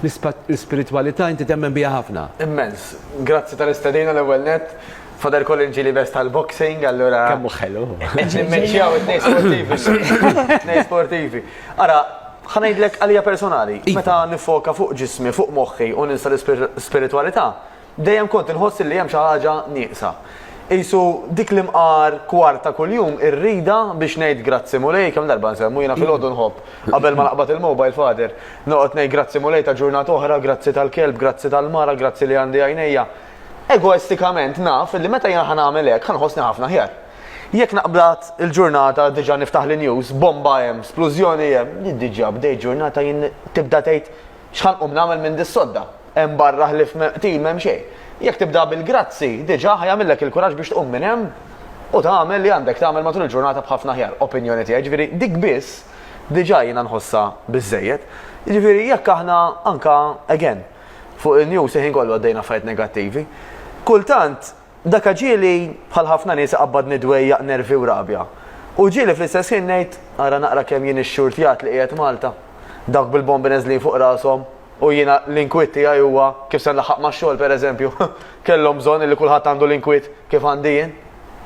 L-ispiritwalità inti temmen biha ħafna? Immens. Grazzi tal-istedina l-ewwel nett. Father Colin ġieli best għall-boxing, allura. Kemm hu ħelu. Qed nimmeċċjaw it-tnejn sportivi. It-tnejn sportivi. Ara, ħa ngħidlek għalija personali, meta niffoka fuq ġismi, fuq moħħi u ninsa l-ispiritwalità, Dejjem kont inħoss li hemm xi ħaġa nieqsa. Qisu dik l-imqar kwart ta' kuljum ir-rida biex ngħid Grazzi Mulej, kemm darba nsemmu, jiena filgħodu nħobb, qabel ma naqbad il-mobile father, noqgħod ngħid Grazzi Mulej ta' ġurnata oħra, grazzi tal-kelb, grazzi tal-mara, grazzi li għandi għajnejja. Egoistikament naf li meta jiena ħa nagħmel hekk ħa nħossni ħafna aħjar. Jekk naqbad il-ġurnata diġà niftaħ l-news, bomba hemm, splużjoni hemm, diġà bdejt ġurnata jien tibda tgħid X'ħa nqum nagħmel minn dis-sodda? Hemm barra ħlief qtil m'hemm xejn. Jekk tibda bil-grazzi, diġà ħa jagħmillek il-kuraġġ biex tqum minn hemm u tagħmel li għandek tagħmel matul il-ġurnata b'ħafna aħjar. Opinjoni tiegħi, jiġifieri dik biss diġà jiena nħossha biżżejjed. Jiġifieri jekk aħna anke, again, fuq in-news il-ħin kollu għaddejna affarijiet negattivi, kultant, Dak ġieli, bħal ħafna nies, iqabbadni dwejjaq, nervi u rabja. U ġieli fl-istess ħin ngħid, ara naqra kemm jien ix-xurtjat li qiegħed Malta. Dawk bil-bombi neżlin fuq rashom, u jiena l-inkwiet tiegħi huwa kif se nlaħħaq max-xogħol, pereżempju. Kellhom bżonn illi kulħadd għandu l-inkwiet kif għandi jien.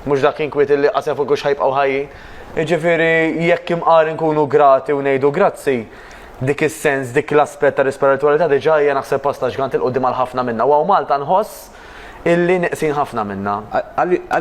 Mhux dak inkwiet illi qas jaf hekk hux ħa jibqgħu ħajjin. Jiġifieri, jekk imqar inkunu grati u ngħidu grazzi, dik is-sens, dik l-aspett ta' risperitwalità diġà hija naħseb pass ta' ġgant 'il quddiem għal ħafna minna u hawn Malta nħoss illi neqsin ħafna minnha.